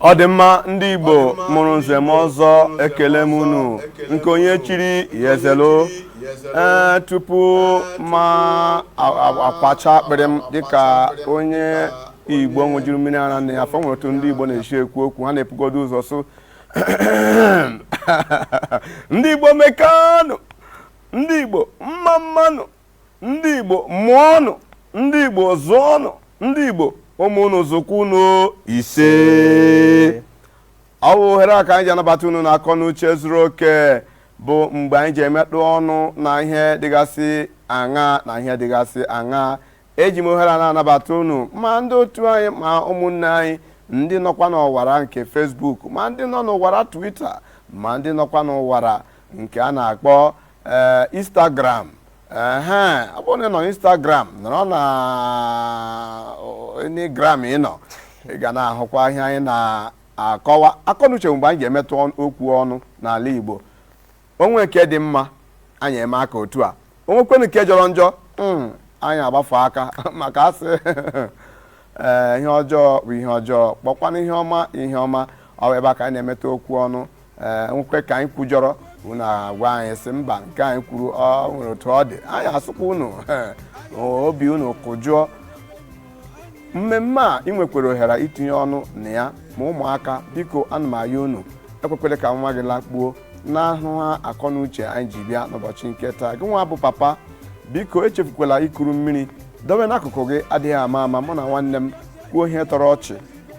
ọ dị mma ndị igbo mụrụ nze mụọ ọzọ ekelee m unu nke onye chiri ya ezelo ee tupu m a- a- akwacha akpịrị m dịka onye igbo ṅụjuru mmiri ara nne ya afọ o nwere otu ndị igbo na-esi ekwu okwu ha na-ebugodu ụzọ sị ndị igbo mekanụ ndị igbo mma mmanụ ndị igbo mụọnụ ndị igbo zụọnụ ndị igbo ụmụ unu zụkwa unu ise ọ wụ ohere a ka anyị ji anabata unu n'akọnuche zuru oke bụ mgbe anyị ji emetụ ọnụ na ihe dịgasị aṅa na ihe dịgasị aṅa eji m ohere a na-anabata unu ma ndị otu anyị ma ụmụnne anyị ndị nọkwa n'ọwara nke Facebook ma ndị nọ n'ọwara Twitter ma ndị nọkwa n'ọwara nke a na-akpọ ee eh, instagram ehe ọ bụrụ na ị nọ instagram nọrọ na instagram ị nọ ị ga na-ahụkwa ihe anyị na-akọwa akọnuche mgbe anyị ga-emetụ okwu ọnụ n'ala igbo o nwee nke dị mma anyị eme aka otu a o nwekwanụ nke jọrọ njọ hmm, anyị agbafu aka maka a sị ee eh, ihe ọjọọ bụ ihe ọjọọ kpọkwanụ ihe ọma ihe ọma ọ ebe a ka anyị na-emetụ okwu ọnụ e nwekwee ka anyị kwujọrọ unu agwa anyị sị mba nke anyị kwuru o nwere otu ọ dị anyị asụkwa unu ee, obi unu kụjụọ mmemme a ị nwekwara ohere itinye ọnụ na ya ma ụmụaka biko ana m ayọ unu ekwekwala ka nwa gị lakpuo n'ahụghị akọ na uche anyị ji bịa n'ụbọchị nke taa gị nwa bụ papa biko echefukwala ikuru mmiri dobe n'akụkụ gị adịghị ama ama mụ na nwanne m kwuo ihe tọrọ ọchị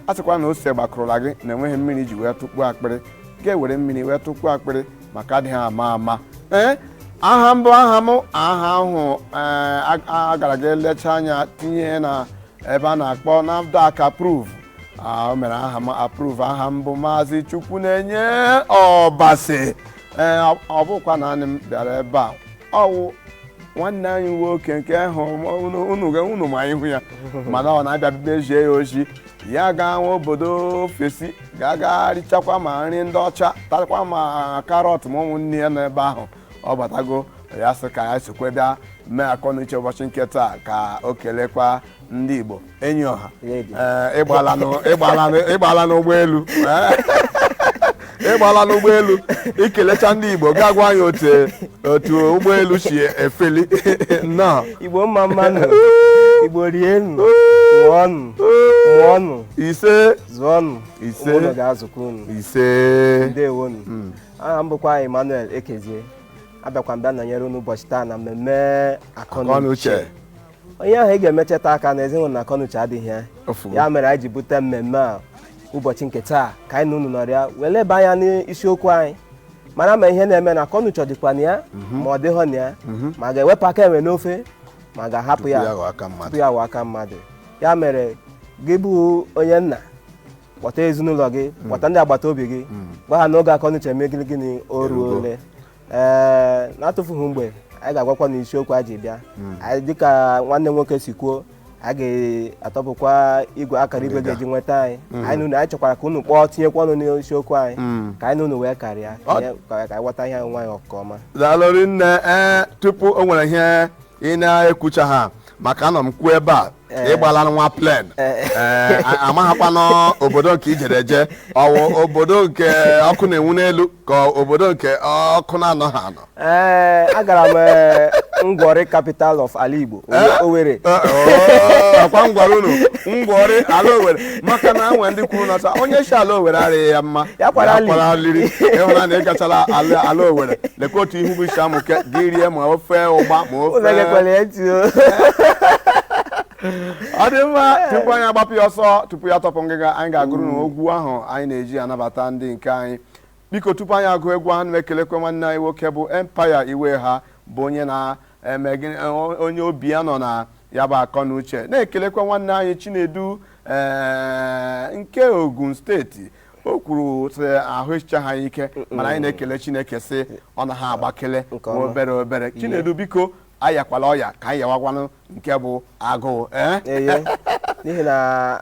a sịkwa na ose gbakụrụla gị na enweghị mmiri i ji wee tụkpuo akpịrị ị ga-ewere mmiri wee tụkpuo akpịrị maka adịghị ama ama ee aha m bụ aha m aha ahụ ee, a- a gara ga lechaa anya tinye na ebe a na-akpọ NAFDAC approve Ah, o mere aha m approve aha m bụ maazị chukwunenye ọbasi ee ọ bụkwa naanị m bịara ebe a ọ wụ nwanne anyị nwoke nke ahụ unu ma ihu ya mana ọ na-abịa mezie ya ozi ya gawa obodo ofesi gaa ga richakwa ma nri ndị ọcha takwa ma karọt ma ụmụnne ya n'ebe ahụ ọ batago ya sị ka ya sokwe bịa mee akọnuche ụbọchị nke taa ka o kelekwa ndị Igbo enyi ọha ị gbaala n'ụgbọelu ị gbaala n'ụgbọelu i kelechaa ndị Igbo ga-agwa anyị otu otu ụgbọelu si efeli nnọọ Igbo mma mmanụ Igbo rienu ṅụọnụ mụọnụ ise zụọnụ ise ụmụ unu ga-azụkwa unu ise ndewonu hmm. aha m bụkwa Emmanuel Ekezie abịakwa m bịa nọnyere unu ụbọchị taa na mmemme akọnuche onye ahụ ị ga-emecheta aka na ezinụlọ na akọnuche adịghị ya ya mere anyị ji bute mmemme a ụbọchị nke taa ka anyị na unu nọrịa wee leba anya n'isiokwu anyị mara ma ihe na-eme na akọnuche dịkwa na ya mhm. ma ọ dịghọ na ya mhm. ma a ga-ewepụ aka enwe n'ofe ma a ga-ahapụ ya tupu ya aghọọ aka mmadụ ya mere gị bụ onye nna kpọta ezinụlọ gị mm. kpọta ndị agbata obi gị mm. gwa ha na oge akọnuche mee gịnị gịnị o ruole ee na-atụfughị mgbe anyị ga-agwakwa unu isiokwu a ji bịa anyị dịka nwanne nwoke si kwuo anyị ga-atọpụkwa igwe akara igwe ga-eji nweta anyị anyị na unu anyị chọkwara ka unu kpọọ tinyekwa ọnụ n'isiokwu anyị ka anyị na unu wee karịa ka anyị ka anyị ghọta onwe anyị nke ọma daalụ rinne ee tupu o nwere ihe ị na-ekwuchaha maka anọ m kwuo ebe a Eh. ị gbala nwa plane eh. eh, amaghakwanụ obodo nke i jere eje ọ wụ obodo nke ọkụ na-enwu n'elu ka obodo nke ọkụ na-anọha anọ agara m ngwọrị capital of ala Igbo Owerri ọkwa m gwara unu ngwọrị ala Owerri maka na e nwee ndị kwuru na onye sị ala Owerri arịghị ya mma ya kwara aliri ị hụna na ị gachara ala Owerri lekwa otu ihu gị si amụke gị rie ma ofe ụgba ma ofe ọ dị mma tupu anyị agbapụ ya ọsọ tupu anyị atọpụ ngịga anyị ga-agụrụ unu egwu ahụ anyị na-eji anabata ndị nke anyị biko tupu anyị agụ egwu ahụ na-ekelekwe nwanne anyị nwoke bụ Empire Iweha bụ onye na eme gịnị e, onye obi ya nọ na ya bụ akọ na uche na-ekelekwa nwanne anyị Chinedu ee nke Ogun steeti o kwuru sị ahụ eshichaha ike mana anyị na-ekele Chineke sị ọ na ha agbakele Nke ọma. obere obere Chinedu biko ayakwala ọya ka anyị yawakwanụ nke bụ agụụ ee eye n'ihi na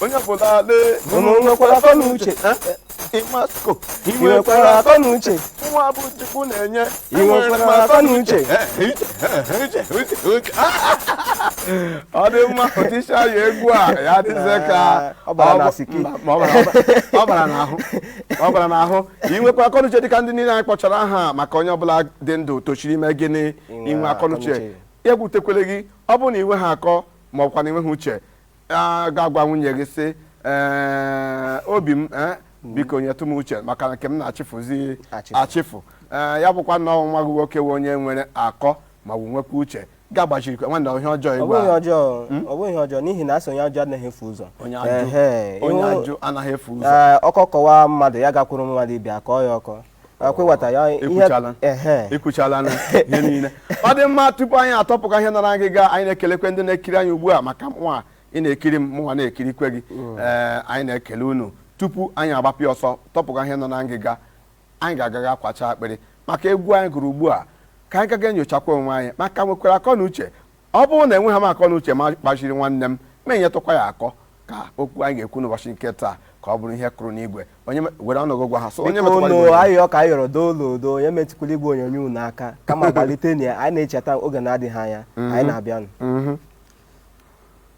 onye ọbụla lee unu nwekwara akọ na uche ịmasko ị nwekwara akọ na uche nwa bụ chukwu na-enye ị nwekwara akọ na uche ọ dị mma otisha ya egwu a ya dịzie ka Ọ bara na siki. Mba, ma ọ bara- ọ bara- ọ bara n'ahụ ọ bara n'ahụ ị nwekwa akọnuche dịka ndị niile anyị kpọchara aha maka onye ọbụla dị ndụ toshiri ime gịnị Inwe inwe akọnuche akọnuche. ya ewutekwele gị ọ bụrụ na i nweha akọ ma ọ bụkwanụ i nweha uche a ga-agwa nwunye gị sị "Ee, obi m eh, biko nyetụ m uche maka na nke m na-achịfụzi Achịfụ. achịfụ Ee, ya bụkwa na nwa gị nwoke wụ onye nwere akọ ma ọ wụ nwekwa uche gaa gbazirikwa nwanne ihe ọjọọ ọ igwe bụghị ihe a. ọjọọ ọ bụghị ihe ọjọọ n'ihi na a sị onye ajụ anaghị efu ụzọ onye Ehe, ajụ onye ịhụ- ajụ anaghị efu ụzọ Ee, ọkọ kọwa mmadụ ya gakwuru mmadụ ibe ya akọọ ya ọkọ akwụwata ya ihe- ekwuchala ehe. ekwuchala na ihe niile ọ dị mma tupu anyị atọpụkwa ihe nọ na ngịga anyị na-ekelekwe ndị na-ekiri anyị ugbu a maka mụnwa ị na-ekiri m mụnwa na-ekirikwe gị ee anyị na-ekele unu tupu anyị agbapịa ọsọ tọpụkwa ihe nọ na ngịga anyị ga-agaga akwacha akpịrị maka egwu anyị gụrụ ugbu a ka anyị gaga enyochakwa onwe anyị ma a ka nwekwara akọ na uche Ọ bụrụ na enweghị m akọ na uche ma kpachiri nwanne m ma enyetụkwa ya akọ ka okwu anyị ga-ekwu n'ụbọchị nke taa ka ọ bụrụ ihe kụrụ n'igwe onye me- were ọnụ gụ gwa ha sị onye biko metụkwara unu igwe ayịyọ ka a yọrọ doo nụ doo onye metụkwala igwe onyonyo unu aka kama gbalitenụ ya anyị na-echeta oge na-adịghị anya anyị na-abịanụ Mhm.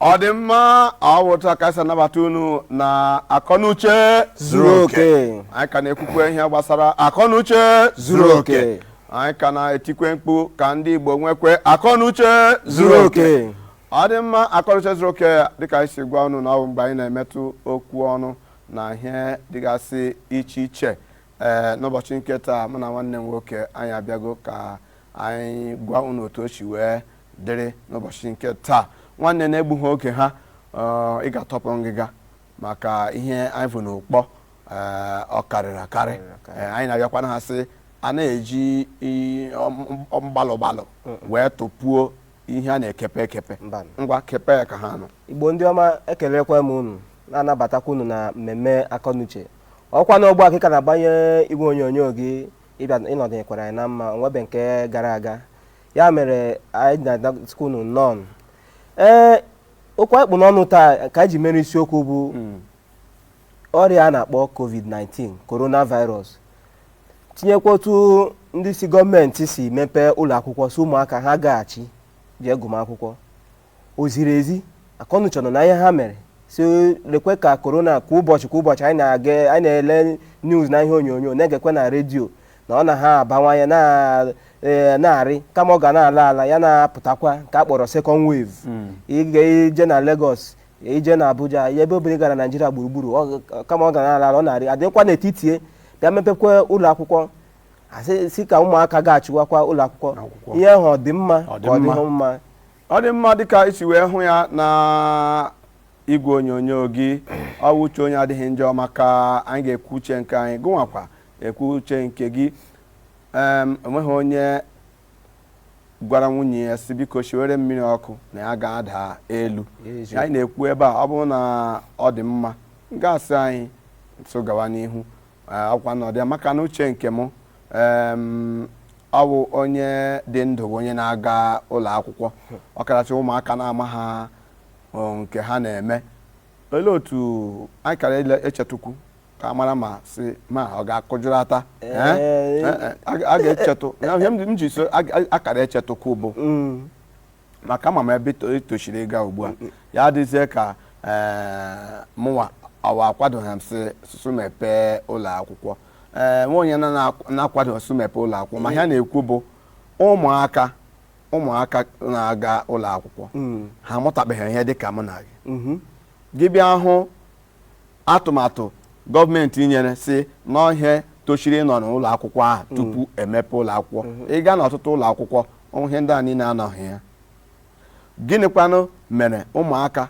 ọ dị mma ọ wụ otu a ka e si anabata unu na akọnuche zuru oke anyị ka na-ekwukwe ihe gbasara akọnuche zuru oke anyị ka na-etikwe mkpu ka ndị Igbo nwekwe akọnuche zuru oke ọ dị mma akọnuche zuru oke dịka anyị si gwa unu na ọ bụ mgbe anyị na-emetụ okwu ọnụ na ihe dịgasị iche iche ee eh, n'ụbọchị nke taa mụ na nwanne m nwoke anyị abịago ka anyị gwa unu otu o si wee dịrị n'ụbọchị nke taa nwanne n'egbughị oge ha ị ga-atọpụ ngịga maka ihe anyị bu n'ụkpa ọ karịrị akarị anyị na-abịakwa na ha sị a na-eji mgbalụ gbalụ wee tụpuo ihe a na-ekepe ekepe ngwa kepe ya ka ha nụ igbo ndị ọma ekelekwa m unu na-anabatakwa unu na mmemme akọnuche ọkwa na ugbu a ka ị ka na-agbanye igwe onyonyo gị ịbịa ịnọdụnyekwara anyị na mma o nwebe nke gara aga ya mere anyị na-asịkwa unu nnọọ ee okwu anyị kpụ n'ọnụ taa ka anyị ji mere isiokwu bụ ọrịa a na-akpọ covid-19 coronavirus tinyekwa otu ndị isi gọọmenti si mepee ụlọ akwụkwọ sị ụmụaka ha gaghachi jee gụma akwụkwọ o ziri ezi akọnuche nọ na ihe ha mere sị lekwe ka korona kwa ụbọchị kwa ụbọchị anyị na-aga anyị na-ele news na ihe onyonyo na-egekwe na redio na ọ na ha abawanye na- ee, na-arị kama ọ ga na-ala ala ya na-apụtakwa nke a kpọrọ second wave ị ga i je na Lagos i je na Abuja ebe obere gara Naijiria gburugburu ọ- kama ọ ga na-ala ala ọ na-arị a dịkwa n'etiti ya bịa mepekwa ụlọ akwụkwọ sị ka ụmụaka gachiwakwa ụlọ akwụkwọ Akwụkwọ. ihe ahụ ọ dị mma ka ọ dịghị mma ọ dị mma dịka i si wee hụ ya na igwe onyonyo gị ọ wụ uche onye adịghị njọ maka anyị ga-ekwu uche nke anyị gụnwakwa ekwu uche nke gị em o nweghị onye gwara nwunye ya sị biko shiwere mmiri ọkụ na ya ga-ada elu Eziokwu. anyị na-ekwu ebe a ọ bụrụ na ọ dị mma gị asị anyị so gawa n'ihu Ee, ọkwa n'ụdị a maka na uche nke mụ em, ọ bụ onye dị ndụ bụ onye na-aga ụlọ akwụkwọ ọkaracha ụmụaka na-amaha ọ, nke ha na-eme olee otu anyị kara ele- echetụkwu ka a mara ma sị ma ọ ga-akụjụrata Eh? Ee. Eh, eh, a ga- a ga-echetụ Ya ihe m ji- m ji sị a ga- a kara echetụkwu bụ maka ama m ebe ito- i toshiri ịga ugbu a ya adịzie ka ee, mụnwa awa akwadoghị m sị sụsụ mepee ụlọ akwụkwọ ee nwa onye na- na-akwado sụ mepee ụlọ akwụkwọ ma ihe a na-ekwu bụ ụmụaka ụmụaka na-aga ụlọ akwụkwọ ha amụtabeghị ihe dị ka mụ na gị gị bịa hụ atụmatụ gọọmenti nyere sị na ọ ihe toshiri ịnọ n'ụlọ akwụkwọ ahụ mm. tupu emepe ụlọ akwụkwọ mm-hmm. ị gaa n'ọtụtụ ụlọ akwụkwọ ihe ndị a niile anọghị ya gịnịkwanụ mere ụmụaka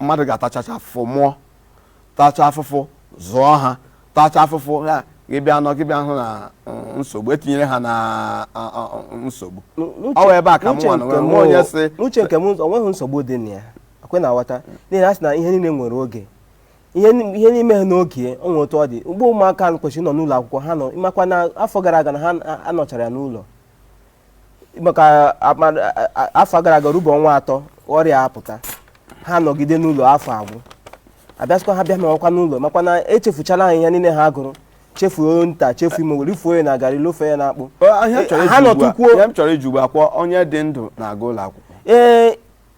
mmadụ ga-atachacha afụfụ mụọ tacha afụfụ zụọ ha tacha afụfụ ha gị bịa nọ gị bịa hụ na mm, nsogbu e tinyere ha na nsogbu ọ wụ ebe a ka mụnwa na onwe onye sị n'uche nke m o nweghị nsogbu dị na ya ọkwa ị na-aghọta n'ihi na a sị na ihe niile nwere oge ihe ni- ihe n'ime ha n'oge o nwere otu ọ dị mgbe ụmụaka ahụ kwesịrị ịnọ n'ụlọ akwụkwọ ha nọ makwa na afọ gara aga na ha a- anọchara ya n'ụlọ maka ama- a- a- afọ gara aga rubo ọnwa atọ ọrịa apụta ha nọgide n'ụlọ afọ agwụ a bịa sịkwa ha bịa nọwakwa n'ụlọ makwa na echefuchala ha ihe niile ha gụrụ chefuo nta chefuo imo wee rifuo ya na garị lofuo ya na akpụ Ọ- ihe m chọrọ ha ịjụ ugbu a- nọtụkwuo ihe m chọrọ ịjụ ugbu a ọkwa onye dị ndụ na-aga ụlọ akwụkwọ ee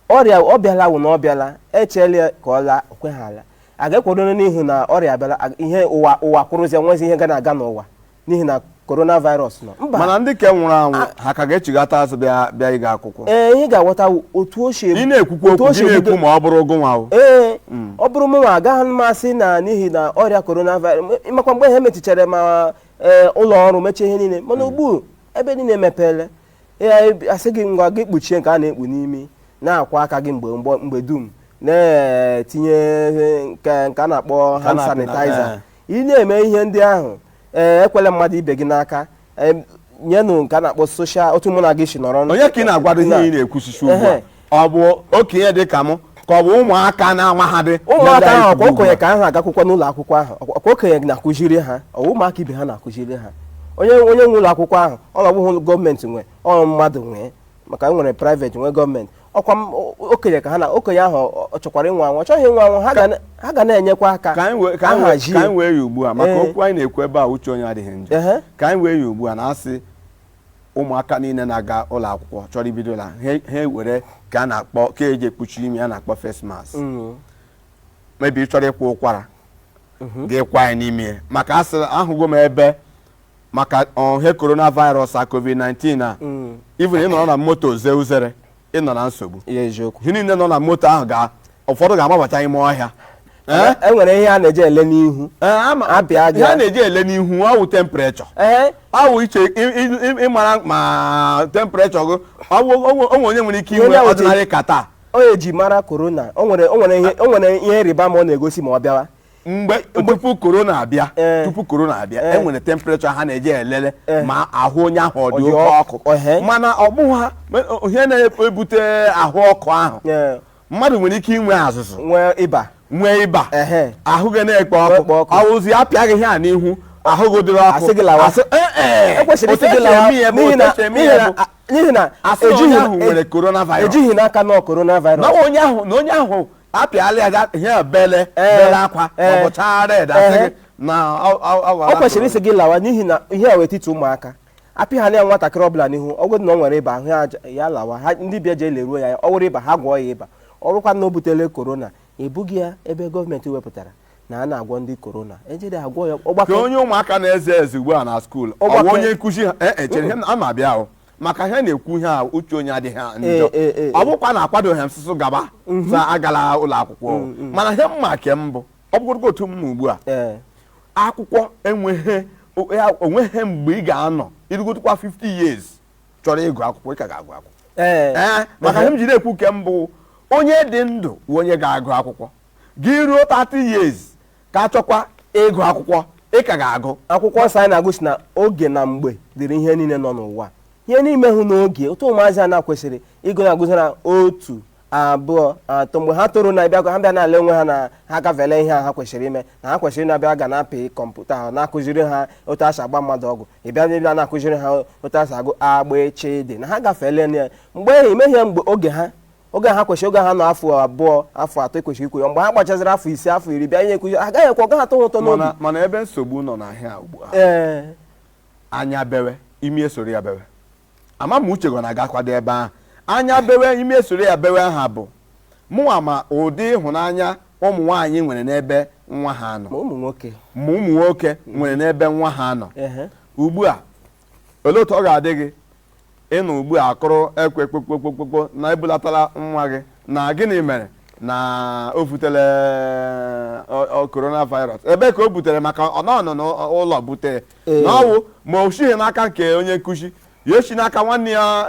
ọrịa ọ bịala wụ na ọ bịala e cheela ya ka ọ laa o kweghị ala a ga-akwụrụ n'ihi na ọrịa abịala a- ihe ụwa ụwa kwụrụzie nwezi ihe ga na-aga n'ụwa n'ihi na coronavirus nọ mba mana ndị ke nwụrụ anwụ ha ka ga-echighata azụ bịa bịa ịga akwụkwọ ee ihe ị ga-aghọta wụ otu o si ị na-ekwukwa otu okwu o si gị na-ekwu ebido- ma ọ bụrụ gụnwa o ee ọ bụrụ mụnwa agaghị m asị na n'ihi na ọrịa coronavirus m- makwa mgbe ha mechichara ma ee, ụlọ ọrụ mechie ihe niile mana ugbu a ebe niile emepeela Ee, a sị gị ngwa gị kpuchie nke a na-ekpu n'imi na-akwọ aka gị mgbe mgbe- mgbe dum na-etinye nke nke a na-akpọ Ka hand na- sanitizer eh. ị na-eme ihe ndị ahụ ee ekwela mmadụ ibe gị n'aka em, nyenụ nke a na-akpọ social otu mụ na gị si nọrọ onye ka ị na-agwadụ ihe Na- ị na-ekwusisi ugbu a Ehe. ọ bụ okenye dị ka mụ ka ọ bụ ụmụaka na-amaghadị ụmụaka ahụ ọkwa okenye ka ha gakwukwa n'ụlọ akwụkwọ ahụ ọkwa ọkwa okenye na-akụziri ha ọ bụ ụmụaka ibe ha na-akụziri ha onye onye nwe ụlọ akwụkwọ ahụ ọ na-abụghị gọọmenti nwe ọ bụrụ mmadụ nwe maka e nwere private nwee gọọmenti ọkwa m- o- okenye ka ha na okenye ahụ ọ- ọ chọkwara ịnwụ anwụ ọ chọghị ịnwụ anwụ ha ga na- ha ga na-enyekwa aka ka anyị wee- ka anyị wee- ahazie. ka anyị wee ya ugbu a maka Ee. okwu anyị na-ekwu ebe a uche onye adịghị njọ Ehe. ka anyị wee ya ugbu a na a sị ụmụaka niile na-aga ụlọ akwụkwọ chọrọ ibido la ha ha ewere nke a na-akpọ nke e ji ekpuchi imi a na-akpọ face mask Mm. maybe ị chọrọ ịkwa ụkwara gị kwa ya n'ime ya. maka a sịrị ahụgo m ebe maka ihe coronavirus a covid-19 a Mm. even ị nọrọ na moto zee uzere ị nọ na nsogbu ihe eziokwu ihe niile nọ na moto ahụ ga ụfọdụ ga-amabacha ime ọhịa Ee? e nwere ihe a na-eji ele n'ihu Ee, ama- Abịa aja. ihe a na-eji ele n'ihu ọ wụ temprechọ ee ọ wụ iche ị- ị- ị- ịmara ma temprechọ gị ọ wụ- ọ wụ- o nwe onye nwere ike Ihe inwe na-eweta- ọdịnarị kata ọ ihe eji mara korona o nwere o nwere ihe o nwere ihe ịrịba ama ọ na-egosi ma ọ bịawa mgbe tupu korona abịa eh. tupu korona abịa eh. e nwere temprechọ ha na-eji elele eh. ma ahụ onye ahụ ọ dị oke ọkụ mana ọ bụghị ya ihe na-ebute ahụ ọkụ ahụ mmadụ nwere ike inwe azụzụ nwee ịba nwee ịba ahụ ga na-ekpo ọkụ ọwụzi apịa gị ihe a n'ihu ahụ gị dịrị ọkụ n'ihi na ejighị n'aka na coronavirus na onye ahụ apịala ya ga ihe bele Ee. bele akwa Ee. maọbụ chaa red asị Ehe. gị na ọ- ọ- ọ wara ọ kwesịrị ịsị gị lawa n'ihi na ihe a wetiti ụmụaka apịa ha na ya nwatakịrị ọbụla n'ihu ọ bụrụ na ọ nwere ịba ahụ ya aja- ya lawa ha ndị be ya jee leruo ya ọ wụrụ ịba ha gwọọ ya ịba ọ wụkwa na o butele korona ebuga ya ebe gọọmenti wepụtara na a na-agwọ ndị korona ejede agwọ ya ka ọgbakọ onye ụmụaka na-eze eze ugbu a na skuul Ọgbakọ- ọ wụ onye nkụzi ha ee echere ihe na- ama abịa ahụ maka ihe na-ekwu ihe a uche onye adịghị njọ Ee, ee, ee, ọ bụkwa na akwadoghị m sụsụ gaba sị agala ụlọ akwụkwọ mana ihe m ma ke mbụ ọ bụrụgodu otu m ma ugbu a ee akwụkwọ enweghị o- ya- onweghị mgbe ị ga-anọ irugotukwa 50 years chọrọ ịgụ akwụkwọ ị ka ga-agụ akwụkwọ ee ee maka ihe m ji na-ekwu ke mbụ onye dị ndụ bụ onye ga-agụ akwụkwọ gị ruo 30 years ka achọkwa ịgụ akwụkwọ ị ka ga-agụ akwụkwọ nsọ anyị na-agụ sị na oge na mgbe dịrị ihe niile nọ n'ụwa ihe niile wụ n'oge otu ụmụazị a na kwesịrị ịgụ na-agụzara otu abụọ atọ mgbe ha toro na bịa ha bịa na-ale onwe ha na ha gafele ihe a ha kwesịrị ime na ha kwesịrị na-abịa ga na-apị kọmputa ha na-akụziri ha otu a si agba mmadụ ọgwụ ị bịa ndị bịa na-akụziri ha otu a si agụ a b ch d na ha gafele ya mgbe ehi ime ihe mgbe oge ha oge ha kwesịrị oge ha nọ afọ abụọ afọ atọ ekwesịrị ikwu ya mgbe ha gbachaziri afọ ise afọ iri bịa ihe akụzi agaghị ekwe ọ gaghị atọ ha ụtọ n'obi mana mana ebe nsogbu nọ n'ihe a ugbu a ee anya bewe imi esoro ya bewe ama m uche gị ọ na-agakwadụ ebe ahụ anya bewe imi esoro ya bewe aha bụ mụnwa ma ụdị ịhụnanya ụmụ nwaanyị nwere n'ebe nwa ha nọ ma ụmụ nwoke ma ụmụ nwoke nwere n'ebe nwa ha nọ ehe ugbu a olee otu ọ ga-adị gị ịnụ ugbu a akụrụ ekwe kpokpokpokpokpo na ebulatala nwa gị na gịnị mere na o butere coronavirus ebe ka o butere maka ọ nọ n'ụlọ butere na ọwụ ma o sighi n'aka nke onye nkụzi ya esi n'aka nwanne ya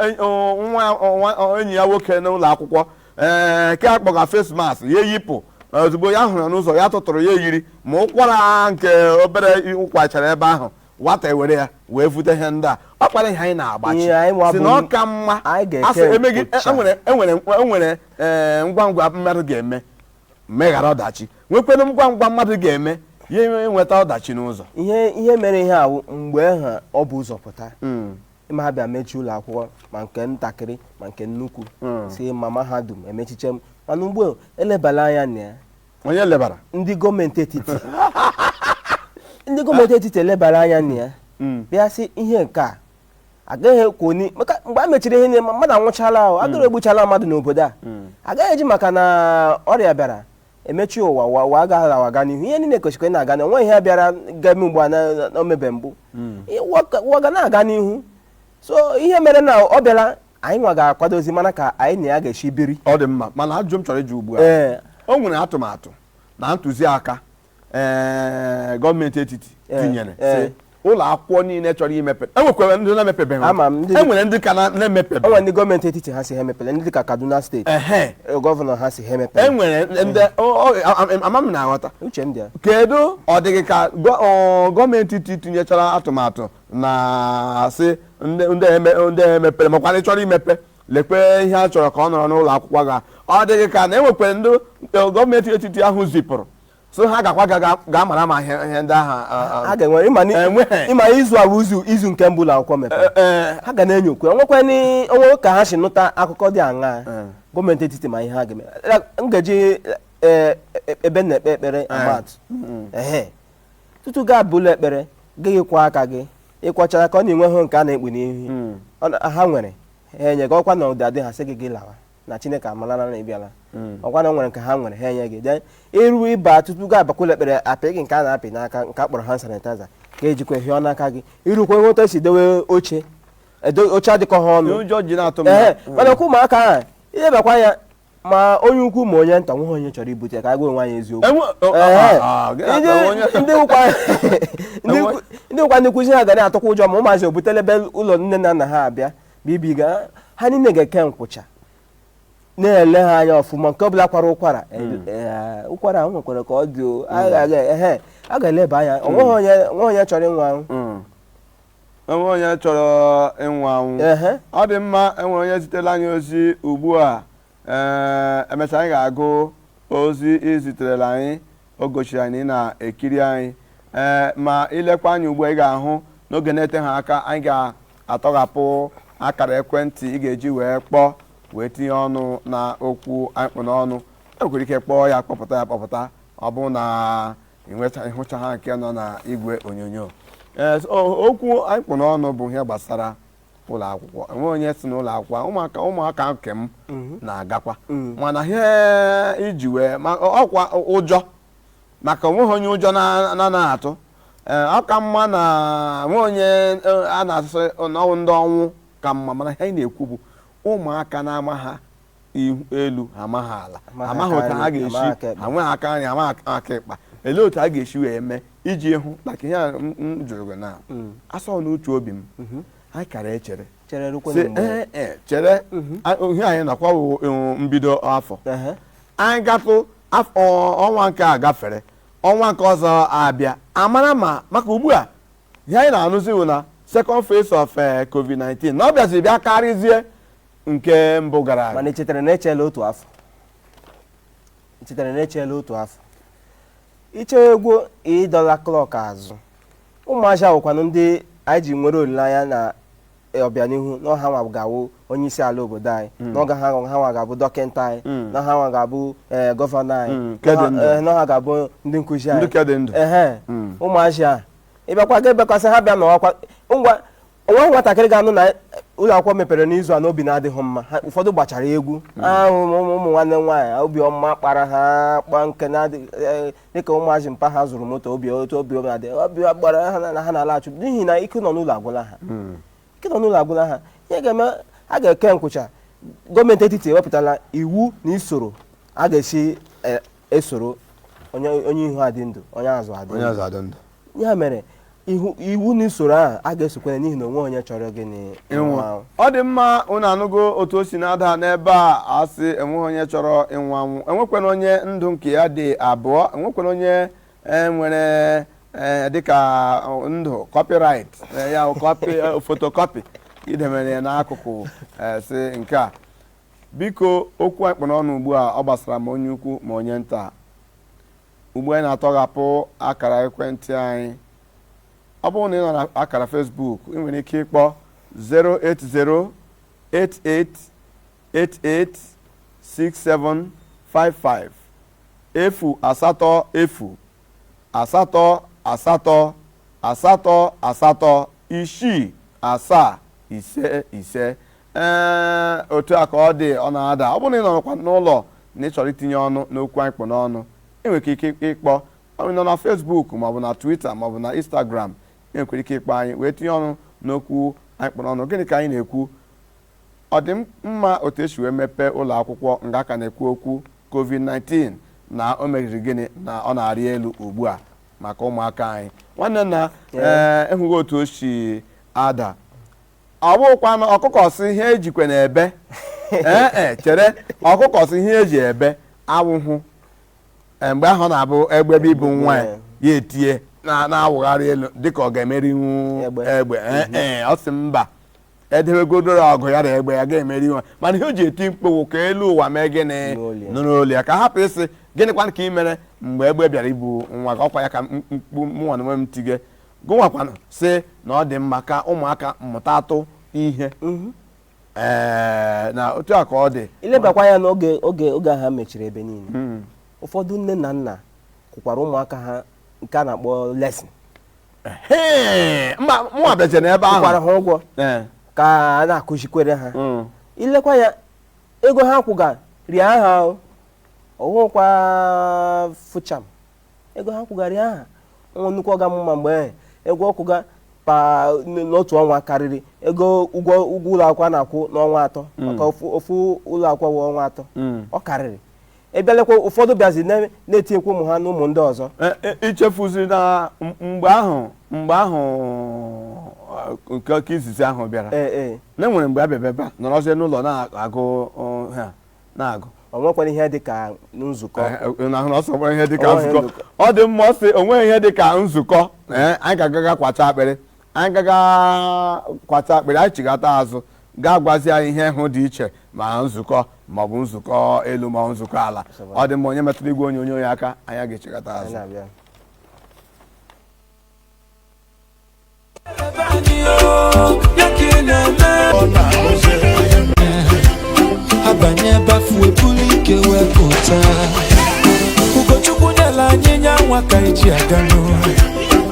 nwa enyi ya nwoke n'ụlọ akwụkwọ ee ke akpọga face mask ya eyipụ ozugbo ya hụrụ ya n'ụzọ ya tụtụrụ ya yiri ma ụkwara nke obere ọ kwachara ebe ahụ nwata ewere ya wee vute ihe ndị a ọ kpara ihe anyị na-agbachi Ihe anyị nwa si bụ- na ọ ka mma anyị ga-eke asị emeghị nkwucha. enwere enwere enwere ee, ngwa ngwa mmadụ ga-eme meghara ọdachi nwekwere ngwa ngwa mmadụ ga-eme ya enwe- enweta ọdachi n'ụzọ ihe ihe mere ihe a wụ mgbe ahụ o bu ụzọ pụta ma ha bịa mechie ụlọ akwụkwọ ma nke ntakịrị ma nke nnukwu Mm. sị ma mahadum emechiche m mana ugbu a elebala anya na ya onye lebara ndị gọọmenti etiti ndị gọọmenti etiti elebara anya na ya Mm. bịa sị ihe nke a agaghị ekwe onye maka mgbe a mechiri ihe niile mmadụ anwụchala ahụ agụrụ egbuchala mmadụ n'obodo a agaghị eji maka na ọrịa bịara emechi ụwa ụwa ụwa ga na-awaga n'ihu ihe niile kwesịrị ịna-aga na o nwe ihe bịara ga-eme ugbu a na- na- na omebe mbụ Ụwa ga- ụwa ga na-aga n'ihu so ihe mere na ọ bịara anyị nwa ga-akwadozi mana ka anyị na ya ga-esi biri ọ dị mma mana ajụjụ m chọrọ ịjụ ugbu a ee o nwere atụmatụ na ntụziaka ee gọọmenti etiti Eh, tinyere eh. sị ụlọ akwụkwọ niile chọrọ imepe enwekwara ndị na-emepebeghị Ama m ndị- enwere ndị ka na- na-emepebeghị o nwe ndị gọọmenti etiti ha sị ha emepele ndị dịka kaduna steeti ehe eh, gọvanọ ha sị ha emepele enwere ndị ọ- ọ- a- a- ama m na-aghọta uche m dị ya kedu ọ dị gị ka gọ- ọ, gọọmenti etiti tinyechara atụmatụ na-asị ndị emepere makwa ndị chọrọ imepe lekwe ihe a chọrọ ka ọ nọrọ n'ụlọ akwụkwọ ga ọ dị gị ka na enwekwere ndị gọọmenti etiti ahụ zipụrụ sị ha gakwa ga mara ma ihe ndị ahụ ịma izu a izu izu nke mbụ ụlọ akwụkwọ mepere e, e. ha ga na-enyokwa enwekwana o nwe ka ha si nụta akụkọ dị aṅaa e. gọọmenti etiti ma ihe ha ga-eme m ga-eji ebe a na-ekpe ekpere ama atụ tutu gị abaa ụlọ ekpere ị ga-akwọ aka gị ị kwọchaa aka ọ na i nwehụ nke a na-ekpu n'ihu hmm. ha nwere ha enye gị ọkwa na ọ dịghị adị ha sị gị gị lawa na chineke amalala na ị bịala hmm. ọkwa na e nwere nke ha nwere ha enye gị de iru ịba tutu gị abakwa ụlọ ekpere apị gị nke a na-apị n'aka nke a kpọrọ hand sanitizer ka i jikwa hịọ n'aka gị i rukwaa ị hụ otu e si dewe oche oche adịkọha ọnụ mana ọkwa ụmụaka ahụ ihe bakwa ya ma onye ukwu ma onye nta nweghị onye chọrọ ibute ka anyị gwa onwe anyị eziokwu Enwe- o- Ee. ah, ah, gị Ndị- aka onye- ndị bụkwa ndị bụkwa- ndị bụkwa ndị nkụzi ha ga na-atụkwa ụjọ ma ụmụazị o butele be ụlọ nne na nna ha abịa bibiga ha niile ga-eke nkwụcha na-ele ha anya ọfụma nke ọbụla kwara ụkwara Ee, ụkwara ahụ nwekwara ka ọ dị o. A ga- a ga- ehe, a ga-eleba anya onweghị onye onweghị onye chọrọ ịnwụ anwụ Mm. o nwe onye chọrọ ịnwụ anwụ ọ dị mma enwere onye zitere anyị ozi ugbu a ee eh, emesịa anyị ga-agụ ozi i ziterela anyị o gosiri na ị na-ekiri anyị ee eh, ma i lekwa anya ugbu a ị ga-ahụ n'oge na-eteha aka anyị ga-atọghapụ akara ekwentị ị ga-eji wee kpọọ wee tinye ọnụ na okwu anyị kpụ n'ọnụ i nwekwara ike kpọọ ya kpọpụta ya kpọpụta ọ bụ na ịnweta ịhụcha ha nke nọ na igwe onyonyo ee so, o- okwu anyị kpụ n'ọnụ bụ ihe gbasara ụlọ akwụkwọ enwe onye si n'ụlọ akwụkwọ ụmụaka ụmụaka nke m na-agakwa mana ihe iji wee ma ọkwa ụjọ maka onweghị onye ụjọ na- na na atụ ee ọ ka mma na enwe onye eh, a na-asị n'onwe ndụ ọnwụ ka mma mana ihe anyị na-ekwu bụ ụmụaka na-amaghị ihu elu ha amaghị ala Amaghị amaghị aka otu ha nri, amaghị aka ga-esi ekpe. ha nweghị aka nri amaghị aka- aka ịkpa elee otu ha ga-esi wee mee iji hụ maka ihe a m m jụrụ gị na asọ n'uche obi m anyị kara echere chere si rukwenụ mgbe ee ee chere a- ihe anyị nọkwa wụ, eh, mbido afọ Ehe. anyị gatụ af- ọ- ọnwa nke a gafere ọnwa nke ọzọ abịa amara ma maka ugbu a ihe anyị na-anụzi bụ na second phase of eh, covid-19 na ọ bịaziri bịa karịzie nke mbụ gara aga mana echetara na echela otu afọ echetara na echela otu afọ iche egwu ịdọla klọk azụ ụmụazị a wụkwanụ ndị anyị ji nwere olileanya na e, ọbịanihu na ọ ha nwa ga-awụ onye isi ala obodo anyị hmm. na ọ ha ha nwa ga-abụ dọkịta anyị hmm. na ha nwa ga-abụ e, gọvanọ anyị hmm, na e, ha ga-abụ ndị nkụzi anyị ehe ụmụazị a ịbịakwa ga ebekwasị ha bịa n'ọkwa ngwa onweghị nwatakịrị ga-anụ na ụlọ akwụkwọ mepere n'izu a n'obi na-adịghị mma ụfọdụ gbachara egwu hmm. ahụ ụmụ nwanne m nwaanyị obi ọma kpara ha kpa nke e, dịka ụmụazị mpa ha zụrụ moto obi otu obi obi adị obi gbara ha na ha na-alaghachi n'ihi na ike ịnọ n'ụlọ agwụla ha hmm. ike ịnọ n'ụlọ agwụla ha ihe ga-eme a ga-eke nkwụcha gọọmenti etiti ewepụtala iwu na usoro a ga-esi e, esoro onye onye ihu adị ndụ onye azụ adị onye ndụ azụ adị ndụ ya mere ihu- iwu na usoro ahụ a ga-esokwa ya n'ihi na onweghị onye chọrọ gịnị ịnwụ anwụ. ọ dị mma unu anụgo otu o si na-ada n'ebe a asị enweghị onye chọrọ ịnwụ anwụ enwekwanụ onye ndụ nke ya dị abụọ enwekwanụ onye e, nwere e, dịka ọ, ndụ copyright e, ya bụ copy e, photocopy i debere ya n'akụkụ e, sị nke a Biko, okwu anyị kpụ n'ọnụ ugbu a ọ gbasara ma onye ukwu ma onye nta? Ugbu a anyị na-atọghapụ akara ekwentị anyị. Ọ bụrụ na ị nọ na akara Facebook, ị nwere ike ịkpọ 08088886755 efu asatọ efu asatọ asatọ asatọ asatọ isii asaa ise ise ee otu a ka ọ dị ọ na-ada ọ bụrụ na ị nọrọkwa n'ụlọ na ị chọrọ itinye ọnụ n'okwu anyị kpụ n'ọnụ ị nwere ike ịkpọ ọ nọ na Facebook maọbụ na Twitter maọbụ na Instagram ị nwekwara ike ịkpọ anyị wee tinye ọnụ n'okwu anyị kpụ n'ọnụ gịnị ka anyị na-ekwu Ọ dị m mma otu esi wee mepee ụlọ akwụkwọ nga a ka na-ekwu okwu COVID-19 na o meziri gịnị na ọ na-arị elu ugbu a maka ụmụaka anyị. Nwanne nna, ee ịhụghị otu o si ada. Ọ bụkwanụ ọkụkọ sị ihe ejikwe na-ebe. Ee e chere ọkụkọ sị ihe eji ebe awụhụ Ee, mgbe ahụ ọ na-abụ egbe bịa ibu nwa ya ya etie na- na-awụgharị elu dịka ọ ga-emerinwu Egbe. egbe Ee, ee, ọ sị mba edebegodoro ọgụ ya na egbe ya ga-emerinwu mana ihe o ji eti mkpu wụ ka elu ụwa mee gịnị nụrụ olu ya ka a hapụ ịsị gịnịkwanụ ka ị mere mgbe egbe bịara ibu nwa gị ọkwa ya ka mkpu mụnwa na onwe m tige gụnwakwanụ sị na ọ dị mma ka ụmụaka mụtatụ ihe mhm. ee na otu a ka ọ dị ilebakwa ya n'oge oge oge ha mechiri ebe niile hmm. ụfọdụ nne na nna kwụkwara ụmụaka ha nke a na-akpọ lesson Hee, mba mụ abịaje n'ebe ahụ kwụkwara ha ụgwọ Ee, ka a na-akụzikwere ha mm. ilekwa ya ego ha kwụga rịa ha o ọwụkwa fụcham ego ha kwụga rịa ha nwa nnukwu ọga m ma mgbe ahụ ego ọ kwụga per n- n'otu ọnwa karịrị ego ụgwọ ụgwọ ụlọ akwụkwọ a na-akwụ n'ọnwa atọ maka ofu ofu ụlọ akwụkwọ wụ ọnwa atọ Mm. ọ karịrị ị bịa lekwa ụfọdụ bịazi na- na-etinyekwa ụmụ ha na ụmụ ndị ọzọ E- e- ichefuziri na m- mgbe ahụ mgbe ahụ eh, nke nke izizi ahụ bịara ee ee na enwere mgbe a bịa bịaba nọrọzie n'ụlọ na-agụ ọ, ha na-agụ ọ nwekwara ihe dị ka nzukọ Eh, na ahụ na ọ sọgbara ihe dịka Ọ nweghị nzukọ nzukọ. ọ dị mma ọ sị o nweghị ihe dịka nzukọ eh, anyị ga-agaga kwacha akpịrị anyị gaga kwata akpịrị anyị chighata azụ ga-agwazi anyị ihe ahụ dị iche ma nzukọ maọbụ nzukọ elu ma nzukọ ala ọ dị mma onye emetụla igwe onyonyo ya aka anyị ga-echighata azụ abanye bafu ebulu ike wee pụta Ugochukwu nyela anyị nya nwa ka eji aga n'ụlọ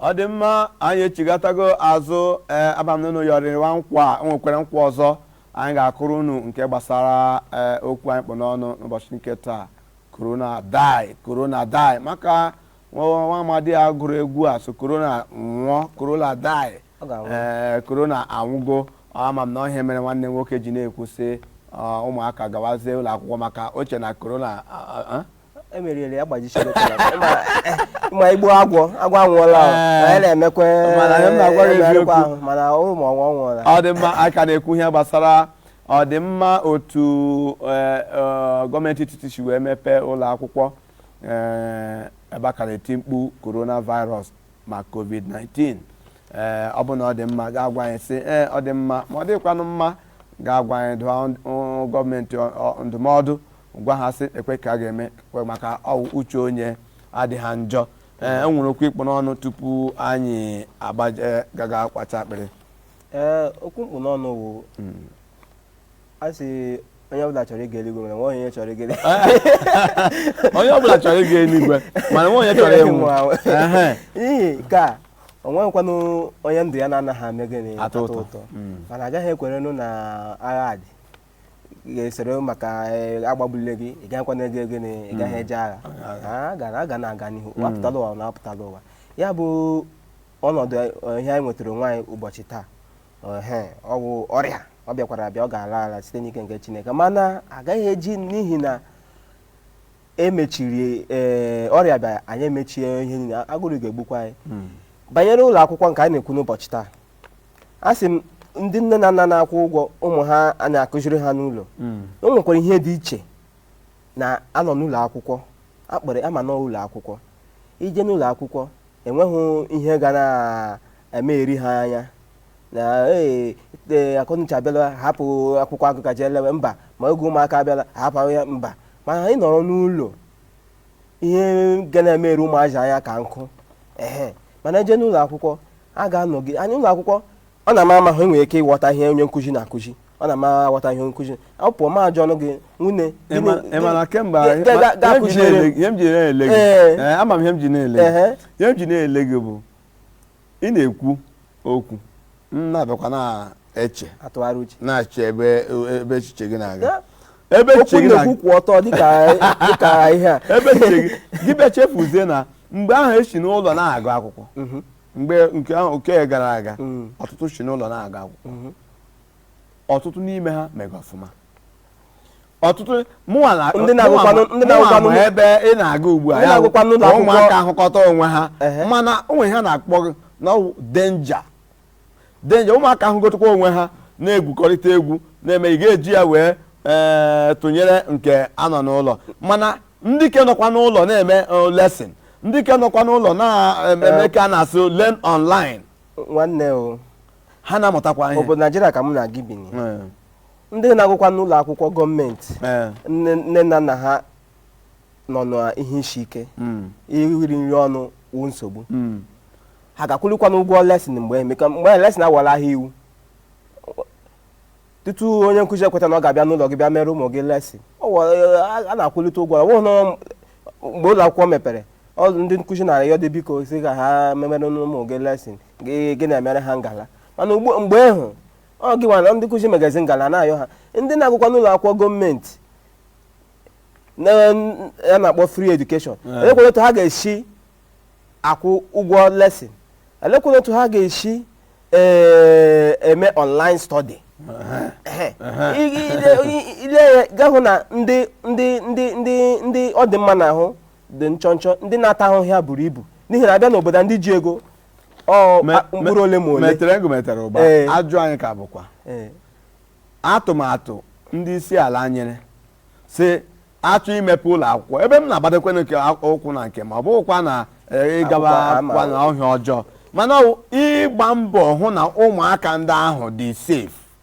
ọ dị mma anyị echigatago azụ ee ama m na unu yọrịwa nkwa o nwekwara nkwa ọzọ anyị ga-akụrụ unu nke gbasara ee okwu anyị kpụ n'ọnụ n'ụbọchị nke taa korona die korona die maka nwa nwa amadi a gụrụ egwu a sị korona nwụọ korona die Ọ ga-anwụ. ee korona anwụgo ama m na ọ ihe mere nwanne m nwoke ji na-ekwu sị ọ, ụmụaka gawazie ụlọ akwụkwọ maka o che na korona a- a- a- emeriere ya gbajisiri ma igbuo agwọ agwọ anwụọla anyị na-emekwa ahụ mana ụrụ ma ọnwụ ọnwụọla ọ dị mma a ka na-ekwu ihe gbasara ọdịmma otu e, e, gọọmenti etiti si wee mepee ụlọ akwụkwọ e, ebe a ka na-eti mkpu coronavirus ma covid-19 ee ọ bụ na ọ dị mma ga-agwa anyị sị ee ọ dị mma ma ọ dịkwanụ mma ga-agwa anyị dụọ gọọmenti ndụmọdụ gwa ha sị ekwe ka a ga-eme kwe maka ọ wụ uche onye adịghị njọ ee e nwere okwu ịkpụ n'ọnụ tupu anyị agbaje gaga kwacha akpịrị ee okwu mkpụ n'ọnụ wụ a sị onye ọbụla chọrọ ịga eluigwe mana o nweghị onye chọrọ ịga eluigwe onye ọbụla chọrọ ịga eluigwe mana o nweghị onye chọrọ ịnwụ Ehe. n'ihi nke a o nweghịkwanụ onye ndụ ya na-anaghị eme gịnị Atọ ụtọ. mana agaghị ekwerenụ na agha dị ga-esoro maka eh, agbagbule gị ị gaghịkwa na ego gịnị ị gaghị eje agha a ga a ga na-aga n'ihu a pụtala ụwa na a pụtala ụwa ya bụ ọnọdụ eh, ihe anyị nwetara onwe anyị ụbọchị taa ehe, ọ bụ ọrịa ọ bịakwara abịa ọ ga-ala ala site n'ike nke Chineke mana agaghị eji n'ihi na emechiri ee ọrịa bịa anyị emechie ihe niile agụrụ ga-egbukwa anyị banyere ụlọ akwụkwọ nke a na-ekwu n'ụbọchị taa a sị m ndị nne na nna na-akwụ ụgwọ ụmụ ha a na-akụziri ha n'ụlọ o nwekwara ihe dị iche na a nọ n'ụlọ akwụkwọ akpọrọ ama n'ụlọ akwụkwọ i jee n'ụlọ akwụkwọ enweghị ihe ga na-eme eri ha anya na ee ee, akọnuche abịala hapụ akwụkwọ agụka jee lewe mba ma oge ụmụaka abịala hapụ ya mba mana anyị nọrọ n'ụlọ ihe ga na-emere ụmụazị anya ka nkụ ehe mana e jee n'ụlọ akwụkwọ a ga-anọgide ya n'ụlọ akwụkwọ ọ na-ama ama ha enwere ike ịghọta ihe onye nkụzi na-akụzi ọ na-ama aghọta ihe onye nkụzi ọ pụọ ma ajụ ọnụ gị nwunye Ị ma- ị ma na kemgbe Ga- anyị- ga- ma- ga- ihe m ji akụziere m. na-ele- ihe m ji na-ele gị Ee. ee, ama m ihe m ji na-ele gị Ehe. ihe m ji na-ele gị bụ ị na-ekwu okwu m na-abịakwa na-eche atụgharị uche na-achọ ebe ebe echiche gị na-aga Ya, ebe okwu echiche gị na-aga na-ekwu kwụ ọtọ dịka dịka ihe a ebe echiche gị gị bịa chefuzie na mgbe ahụ e si n'ụlọ na-agụ akwụkwọ mgbe nke ahụ ke gara aga Mm. ọtụtụ si n'ụlọ na-agụ akwụkwọ ọtụtụ n'ime ha mega ọfụma ọtụtụ mụnwa na- Ndị na-agụkwanụ- mụnwa ma- ndị mụnwa na-agụkwanụ- ma ebe ị na-aga ugbu a Ndị ya bụ na-agụkwanụ ụlọ ka akwụkwọ- ụmụaka ahụkọta onwe ha Ehe. mana o nwere ihe a na-akpọ gịnị ọ bụ danger danger ụmụaka ahụkọtakwa onwe ha na-egwukọrịta egwu na-eme ị ga-eji ya wee ee, tụnyere nke a nọ n'ụlọ mana ndị ke nọkwa n'ụlọ na-eme eh, lesson ndị ke nọkwa n'ụlọ na-eme ka a na-asụ learn online nwanne o ha na-amụtakwa ihe ọ bụ naijiria ka mụ na gị bi Eh. ndị na-agụkwa n'ụlọ akwụkwọ gọọmenti eh. nne na nna ha nọ n'ihe isi ike hmm. iri nri ọnụ wụ nsogbu hmm. ha ga-akwụlikwanụ ụgwọ lesin mgbe emeka mgbe lesin awala ahịa iwu tutu onye nkụzi ekweta na ọ ga-abịa n'ụlọ gị bịa mere ụmụ gị lesin a na-akwụlite ụgwọ ọ bụghị mgbe ụlọ akwụkwọ mepere ndị nkụzi na-arịọ gị biko sị ka ha memere ụmụ gị lesin gị na-emere ha ngala mana mgbe ahụ ọ gịnwa na ndị nkụzi megazi ngala na-ayọ ha ndị na-agụkwa n'ụlọ akwụkwọ gọọmenti ya a na-akpọ free education elekwanụ otu ha ga-esi akwụ ụgwọ lesin elekwanụ otu ha ga-esi eh, eme online study Ehe. I- i- ile- i- i lee ya ga-ahụ na ndị ndị ndị ndị ndị ọ dị mma n'ahụ dị nchọnchọ ndị na-ata ahụhụ ya buru ibu n'ihi na a bịa n'obodo a, ndị ji ego ọ Me- a- mkpụrụ ole ma ole metere ego metere ụba Ee. ajụ anyị ka bụkwa Ee, atụmatụ ndị isi ala nyere sị a chọọ imepe ụlọ akwụkwọ ebe m na-agbadokwanụ nke ụkwụ na nke m ọ bụghịkwa na eh, ịgaba Akwụkwọ ama. akwụkwọ na ọ ihe ọjọọ mana ọ wụ ịgba mbọ hụ na ụmụaka ndị ahụ dị safe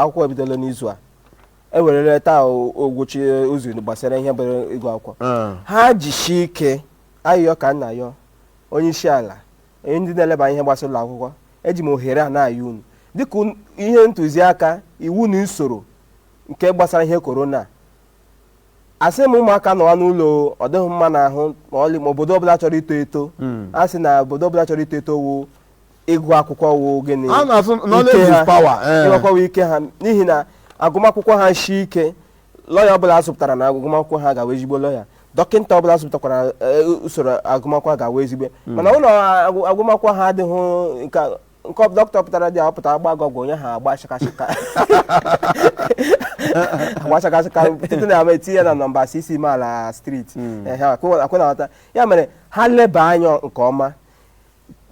akwụkwọ ebidola n'izu a e werere taa ogwuchi ụzọ gbasara ihe bere ịgụ akwụkwọ ah. ha jishi ike ayịyọ ka m na-ayọ onye isi ala onye ndị na-eleba ihe gbasara ụlọ akwụkwọ eji m ohere a na-ayọ unu dịka ihe ntụziaka iwu na usoro nke gbasara ihe korona a sị ụmụaka nọwa n'ụlọ ọ dịghị m mma n'ahụ ma ọlị ma obodo ọbụla chọrọ ito eto hmm. a sị na obodo ọbụla chọrọ ito eto wụ ịgụ akwụkwọ wụ gịnị a na-asị ike knowledge ha. is power eh. ịgụ akwụkwọ wụ ike ha n'ihi na agụmakwụkwọ ha shi ike lọya ọbụla a zụpụtara na agụmakwụkwọ ha ga-awụ ezigbo lọya dọkịta ọbụla a zụpụtakwara eh, usoro agụmakwụkwọ ha ga-awụ ezigbo mana ụlọ agụ- agụmakwụkwọ ha adịghị nke a- nke ọ- dọkịta pụtara dị apụta agba gị ọgwụ onye ha agba shakashaka agba shakashaka site na ama etinye ya na nọmba six imeala street akwụna nghọta ya mere ha leba anya nke ọma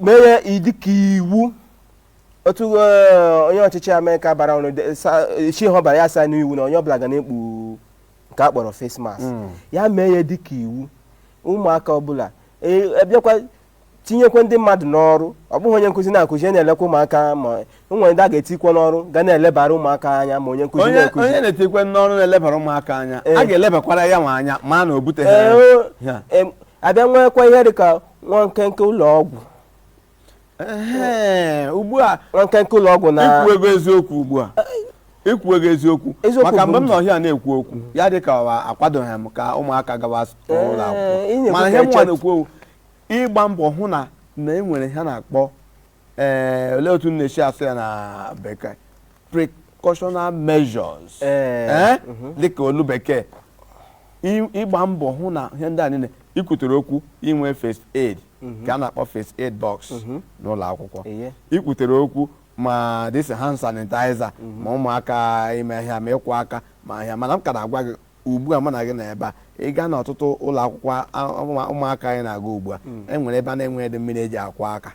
mee ya dịka iwu otu eh, onye ọchịchị amerịka bara ọnụ de- sa- chi ha bara ya saa n'iwu na onye ọbụla ga na-ekpu nke a kpọrọ face mask ya mee ya dịka iwu ụmụaka ọbụla e- a bịakwa tinyekwa ndị mmadụ n'ọrụ ọ bụghị onye nkụzi na-akụzi onye na-elekwa ụmụaka ma o nwere ndị a ga-etikwa n'ọrụ ga na-elebara ụmụaka anya ma onye nkụzi onye na-akụzi onye a na-etikwa n'ọrụ na-elebara ụmụaka anya Ee. a ga-elebakwara yanwa anya ma na o buteghị Ee, ya. o- em, a bịa nwekwa ihe dịka nwa nkenke ụlọ ọgwụ Ehe, ugbu a nwa nkenke ụlọ ọgwụ na i kwugo eziokwu ugbu a i kwugo eziokwu Eziokwu maka bụ mgbe m ndụ. nọ here na-ekwu okwu ya dị ka ọ akwadoghị m ka ụmụaka gawa ụlọ Ee, ị akwụkwọ na-ekwu mana ka ihe mụnwa echet- na-ekwu okwu ịgba mbọ hụ na na e nwere ihe a na-akpọ ee olee otu na-esi asụ ya na bekee precautional measures Ee. Ee? dịka olu bekee I- ịgba mbọ hụ na ihe ndị a niile ikwutere okwu inwe first aid ka a na-akpọ first aid box n'ụlọ akwụkwọ Eye. ikwutere okwu ma this hand sanitizer ma ụmụaka ime ihe ma ịkwọ aka ma ihe mana m ka na-agwa gị Ugbu a mụ na gị nọ ebe a, ị gaa n'ọtụtụ ụlọ akwụkwọ a- ụmụ- ụmụaka anyị na-aga ugbu a e nwere ebe a na-enweghịdị mmiri eji akwọ aka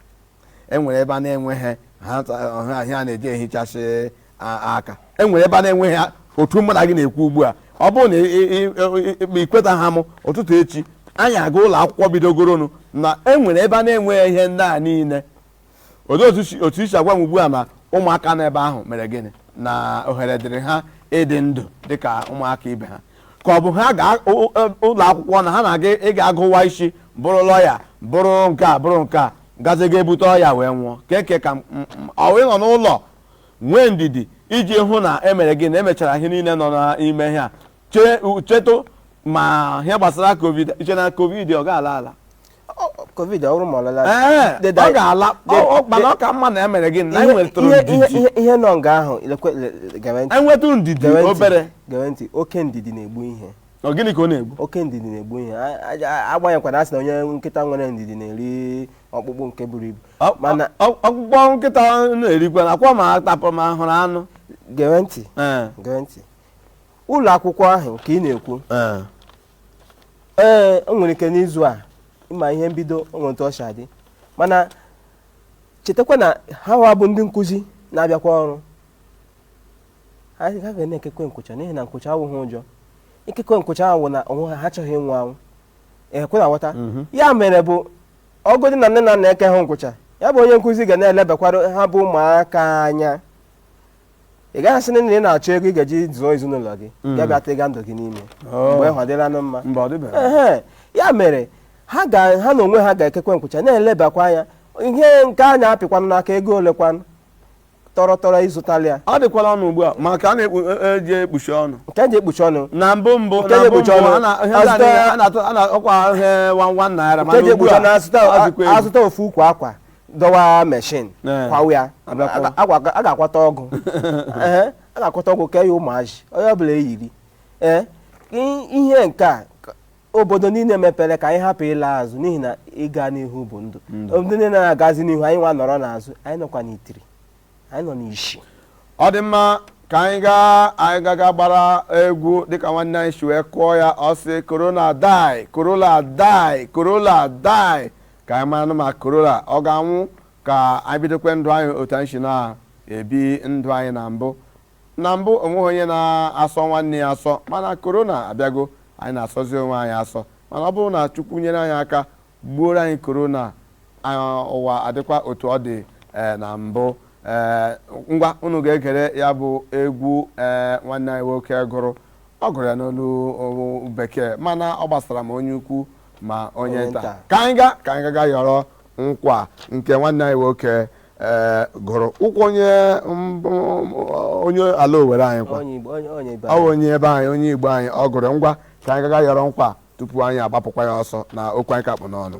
e nwere ebe a na-enweghị ha ta- ọha ahịa a na-eji ehichasị a- aka e nwere ebe a na-enweghị ha- otu mụ na gị na-ekwu ugbu a ọ bụrụ na ị- ị- ị- ị- ị- ikwetaha mụ ụtụtụ echi anyị aga ụlọ akwụkwọ bidogoronụ na e nwere ebe a na-enweghị ihe ndị a niile olee otu si- otu isi agwa m ugbu a ma ụmụaka nọ ebe ahụ mere gịnị na ohere dịrị ha ịdị ndụ dịka ụmụaka ibe ha ka ọ bụ ha ga ụ- ụ- ụlọ akwụkwọ na ha na-aga ịga agụwa isi bụrụ lọya bụrụ nke a bụrụ nke a gazi ga ebute ọya wee nwụọ kee nke ka mma ọ wụ ịnọ n'ụlọ nwee ndidi iji hụ na emere gịnị na emechara ihe niile nọ n'ime ihe a chee chetụ ma ihe gbasara covid iche na covid ọ ga-ala ala Ọ- ọ- covid ọ bụrụ ma ọ lala ee They die. ọ ga-ala They- ọ- ọ- mana ọ ka mma na emere gịnị na ihe- enwetụrụ ihe- ihe- ndidi ihe- ihe nọ nga ahụ lekwe- le- le- gere ntị, enwetụ ndidi gere ntị, obere gere ntị oke ndidi na-egbu ihe ọ gịnị ka ọ na-egbu oke ndidi na-egbu ihe A- a- a- agbanyekwana a sị na onye nkịta nwere ndidi na-eri ọkpụkpụ nke buru ibu Ọ- mana ọ- ọkpụkpụ nkịta na-erikwa na akwa ma atapụ ma hụrụ anụ gere ntị ee gere ntị ụlọ akwụkwọ ahụ nke ị na-ekwu ee ee o nwere ike n'izu a ịma ihe mbido o nwere otu o si adị mana chetakwa na ha wa bụ ndị nkụzi na-abịakwa ọrụ ha ha ga na-ekekwe nkwụcha n'ihi na nkwụcha awụghị ụjọ ikekwe nkwụcha awụ na onwe ha ha achọghị ịnwụ anwụ ọ kwa ị na-aghọta ya mere bụ ọ bụdị na nne na nna ekeha nkwụcha ya bụ onye nkụzi ga na-elebakwara ha bụ ụmụaka anya ị gaghị asị na ị na-achọ ego ị ga-eji zụọ ezinụlọ gị mm. ya bịa tiga ndụ gị n'ime oh. mgbe ọ dịlanụ mma ya mere ha na onwe ha ga-ekekwe nkwụcha na-elebakwa anya ihe nke a na-apịkwanụ n'aka ego olekwanụ tọrọ tọrọ ịzụtali ya ọ dịkwala ọnụ ugbu a maka a na-eji e, e ekpuchi ọnụ nke eji ekpuchi ọnụ na mbụ mbụ na mbụ mbụ a na- ọkwa ihe one one naira nke eji ekpuchi ọnụ azụta ofu ukwu akwa dọwa meshin Eh. kwawa ya Abịakwa. a ga- a ga-akwata ọgụ Ehe, a ga-akwata ọgụ kee ya ụmụazị onye ọbụla eyiri ee i- ihe nke a ka- obodo niile mepere ka anyị hapụ ịla azụ n'ihi na ịga n'ihu bụ ndụ Ndụ. obodo niile na-agazi n'ihu anyị nwa nọrọ n'azụ anyị nọkwa n'itiri anyị nọ n'isi ọ dị mma ka anyị gaa anyị gaga gbara egwu dịka nwanne anyị si wee kụọ ya ọ sị corona die corona die corona die ka anyị maranụ ma korona ọ ga-anwụ ka anyị bidokwe ndụ anyị otu anyị si na-ebi ndụ anyị na mbụ na mbụ onweghị onye na-asọ nwanne ya asọ mana korona abịago anyị na-asọzi onwe anyị asọ mana ọ bụrụ na chukwu nyere anyị aka gbuoro anyị korona ụwa adịkwa otu ọ dị e, na mbụ e, ngwa unu ga-egere ya bụ egwu e, nwanne anyị nwoke gụrụ ọ gụrụ ya n'olu bekee mana ọ gbasara ma onye ukwu ma onye nta ka anyị ga ka anyị gaga yọrọ nkwa nke nwanne anyị nwoke eh, gụrụ ọwụ onye onye ala owere anyị kwa ọ onye ebe anyị onye igbo anyị ọ gụrụ ngwa ka anyị gaga yọrọ nkwa tupu anyị agbapụkwa ya ọsọ na okwu anyị ka kpụ n'ọnụ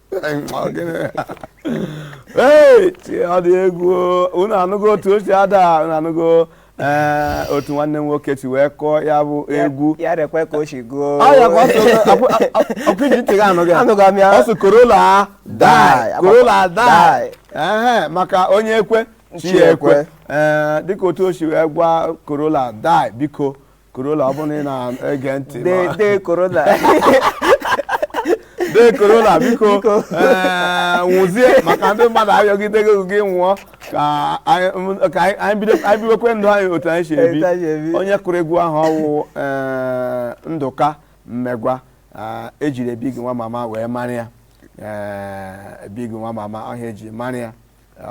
ọ dị egwu unu anụgo otu o si ada unu anụgo ee eh, otu nwanne m nwoke si wee kụọ ya bụ egwu ya rekwe ka o si gụọ ọkụ iji ntị gị anụ gị ọ sị korola die korola die ee maka onye ekwe chi ekwe ee eh, dịka otu o si wee gwa korola die biko korola ọ bụrụ na ị na-ege ntị ma- die die korona die korola biko Biko. ee, nwụzie maka ndị mmadụ ayọgidego gị nwụọ ka anyị m- ka anyị- anyị bido- anyị biwekwe ndụ anyị otu anyị si ebi Otu anyị si ebi. onye kụrụ egwu ahụ ọwụ ee, Ndụka Mmegwa ee, ejiri Biggie nwa mama wee mara ya ee, Biggie nwa mama ọ ihe eji mara ya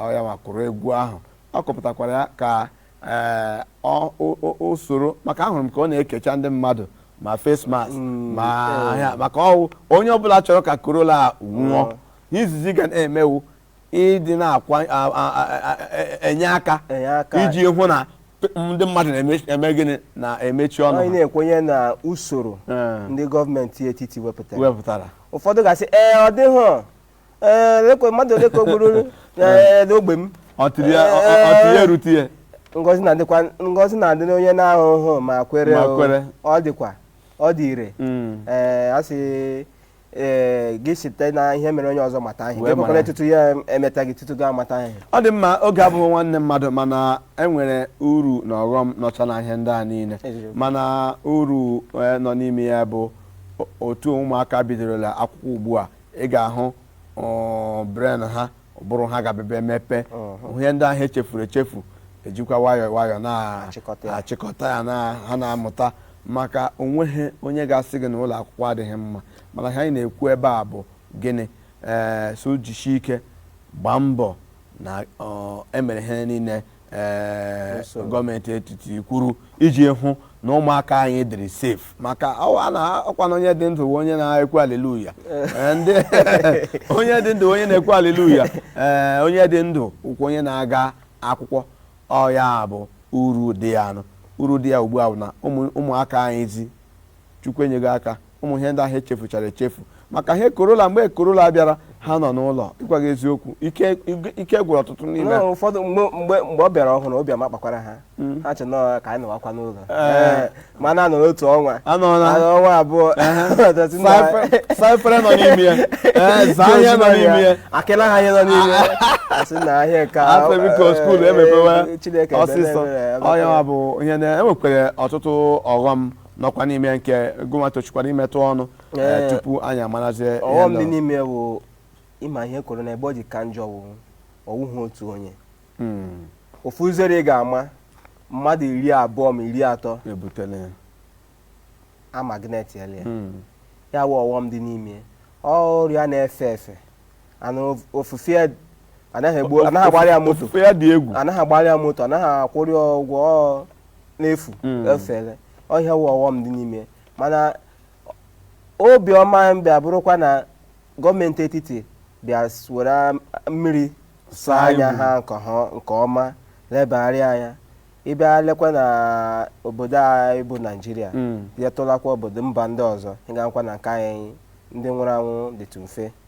ọ ya ma kụrụ egwu ahụ ọ kụpụtakwara ya ka ee ọ- o- o- o soro maka ahụrụ m ka ọ na-ekecha ndị mmadụ ma face mask ma ihe a maka ọwụ onye ọbụla chọrọ ka korola a nwụọ ihe izizi ị ga na-eme wụ ịdị na-akwa a- a- a- a- a- enye aka Enye aka. iji hụ na p- ndị mmadụ na-eme gịnị na-emechi ọnụ anyị ha. na-ekwenye na usoro Ee. ndị gọọmenti etiti wepụtara wepụtara ụfọdụ ga-asị ee ọ dịghị Ee, lekwe mmadụ ole ka o gburu ee, n'ogbe m ọ tiri ya ọ- ọ- ọ tiri ya erute ya ngozi na-adịkwa ngozi na-adị n'onye na-ahụhụ ma kwere Ma o. kwere. ọ dịkwa ọ dị ire Mm. ee a sị ee gị site na ihe mere onye ọzọ mata ihe Wee gị mara. kwekwara tutu ya emeta gị tutu gị amata ihe ọ dị mma oge abụghị nwanne mmadụ mana enwere uru na ọghọm nọcha na ihe ndị a niile Eziokwu. mana uru eh, nọ n'ime ya bụ o- otu ụmụaka bidorola akwụkwọ ugbu a ị ga-ahụ um, brain ha ụbụrụ ha ga-abịa emepe uh-huh. ihe ndị ahụ echefuru echefu ejikwa nwayọọ nwayọọ na-achịkọta ya na ha na-amụta maka onweghị onye ga-asị gị na ụlọ akwụkwọ adịghị mma mana ihe anyị na-ekwu ebe a bụ gịnị ee eh, so jisie ike gbaa mbọ na emere ihe niile ee gọọmenti etiti kwuru iji hụ na ụmụaka anyị dịrị safe maka ọ kwa na onye dị ndụ onye na-ekwu aliluya ndị onye dị ndụ onye na-ekwu aliluya ee onye dị ndụ wụkwa onye na-aga akwụkwọ ọya bụ uru dị ya nụ uru dị ya ugbu a bụ na ụmụaka anyị ezi chukwu enyego aka ụmụ ihe ndị ahụ echefuchara echefu maka ihe korona mgbe korona bịara ha nọ n'ụlọ ịgwa gị eziokwu ike ike- ike gwụrụ ọtụtụ n'ime Nọọ ha. ụfọdụ mgbe mgbe mgbe ọ bịara ọhụrụ obi ama kpakwara ha ha che nọọ ka anyị nọwakwa n'ụlọ Ee. mana a nọọ n'otu ọnwa Anọọ na- Anọ ọnwa abụọ Ọtụtụ ndị Saa a- efe- saa efere nọ n'ime ya Ee, zaa ihe nọ n'ime ya akịla ha ihe nọ n'ime ya asị na ahịa nke a- asị biko skuul ee, emepewe Chineke ebere ọsịsọ ebere, ebere. ọya bụ ihe na enwekwere ọtụtụ ọghọm nọkwa n'ime nke gụnwa tochikwara imetụ ọnụ eh, Ee. tupu anyị amarazie ihe ọghọm ndị dị nọ. n'ime ya wụ ịma ihe kwuru na ebe o ji ka njọ wụ ọ wụghị otu onye Mm, ofu uzere ị ga-ama mmadụ iri abụọ ma iri atọ ebutela ya. a magnetiela ya Mm, ya wụ ọghọm dị n'ime ya. ọrịa na-efe efe na of- ofufe ya anaghị egbu anaghị agbara ya moto Ofufe ya dị egwu anaghị agbara ya moto anaghị akwụrụ ya ụgwọ ọ n'efu Mm. efere ọ ya wụ ọghọm dị n'ime ya. mana obiọma bịa bụrụkwa na gọọmenti etiti bịa s- were am- mmiri saa Saa anya iwu. ha nke ha- nke ọma lebagharịa anya ị bịa lekwa na obodo anyị bụ naijiria Mm. bịa tụlakwa obodo mba ndị ọzọ ị ga-ekwe na nke anyị ndị nwụrụ anwụ dịtụ mfe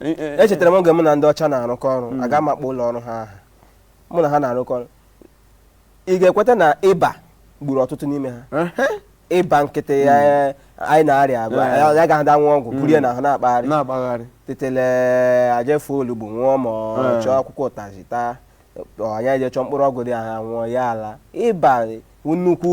Eh, eh, eh. echetara m oge mụ na ndị ọcha na-arụkọ ọrụ Mm. aga m akpọ ụlọ ọrụ ha aha mụ na ha na-arụkọ ọrụ ị ga-ekweta na ịba gburu ọtụtụ n'ime ha Ehe. ịba nkịtị a anyị na-arịa agwa Eh. ya agaghị ada aṅụ ọgwụ buru ya n'ahụ na-akpagharị na-akpagharị tetele aje fọọ olugbu ṅụọ ma ọ Eh. chọọ akwụkwọ ụtazị taa ọ anyị eje chọọ mkpụrụ ọgwụ ndị ahụ ṅụọ ya ala ịba wụ nnukwu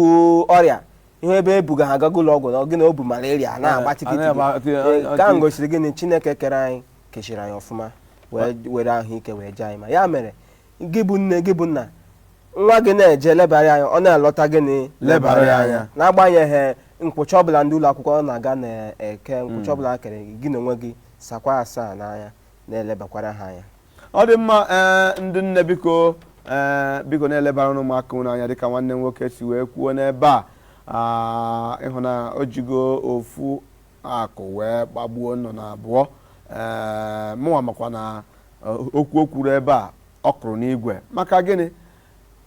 ọrịa ihe ebe ebuga ha agago ụlọ ọgwụ na gịnị o bu malaria a na-agba Eh, tikiti a na-agba- gị. Eh, nke ahụ gosiri gịnị chineke kere anyị kechiri anyị ọfụma wee were ahụike wee jie anyị mma ya mere gị bụ nne gị bụ nna nwa gị na-eje lebara ya anya ọ na-alọta gịnị Lebara ya anya. n'agbanyeghị nkwucha ọbụla ndị ụlọ akwụkwọ ọ na-aga na-eke nkwucha ọbụla ha kere gị n'onwe gị sakwa asaa n'anya na-elebakwara ha anya ọ dị mma ee eh, ndị nne biko ee eh, biko na-elebaranụ ụmụaka ụnụ anya dịka nwanne m nwoke si wee kwuo n'ebe a ah, ị hụ na o jigo ofu akụ wee gbagbuo nnụnụ abụọ ee eh, mụnwa makwa na okwu o kwuru ebe a ọ kụrụ n'igwe maka gịnị